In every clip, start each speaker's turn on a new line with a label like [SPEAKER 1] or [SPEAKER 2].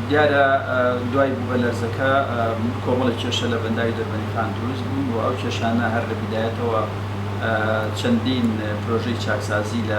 [SPEAKER 1] دیارە دوای بوومەلەرزەکە کۆمەڵێک کێشە لە بەنداوی دەربەندیخان دروست بوون و ئەو کێشانە هەر لە بیدایەتەوە چەندین پرۆژەی چاکسازی لە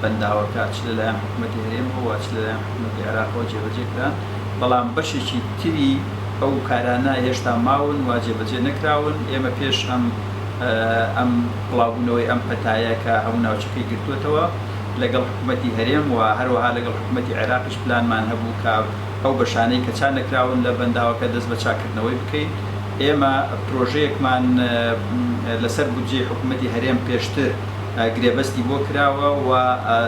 [SPEAKER 1] بەنداوەکە چ لەلایەن حکوومەتی هەرێمەوە و چ لەلایەن حکوومەتی عێراقەوە جێبەجێ کران، بەڵام بەشێکی تری ئەو کارانە هێشتا ماون و جێبەجێ نەکراون. ئێمە پێش ئەم ئەم بڵاوبوونەوەی ئەم پەتایە کە هەموو ناوچەکەی گرتووەتەوە لەگەڵ حکوومەتی هەرێم و هەروەها لەگەڵ حکوومەتی عێراقیش، پلانمان هەبوو کە ئەو بەشانەی کە چا نەکراون لە بەنداوەکە دەست بە چاککردنەوەی بکەین. ئێمە پرۆژەیەکمان لەسەر بودجەی حکوومەتی هەرێم پێشتر گرێبەستی بۆ کراوە و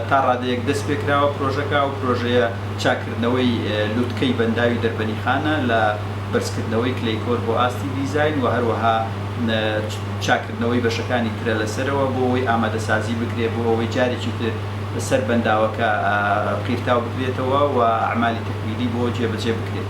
[SPEAKER 1] تا ڕادەیەک دەست پێ کراوە پرۆژەکە. ئەو پرۆژەیە چاککردنەوەی لووتکەی بەنداوی دەربەنیخانە لە بەرزکردنەوەی کلەی کۆر بۆ ئاستی دیزاین و هەروەها چاککردنەوەی بەشەکانی ترە لە سەرەوە بۆ ئەوەی ئامادەسازی بکرێت بۆ ئەوەی جارێکی تر سەر بەنداوەکە قیرتاو بکرێتەوە و ئەعمالی تەکمیلی بۆ جێبەجێ بکرێت.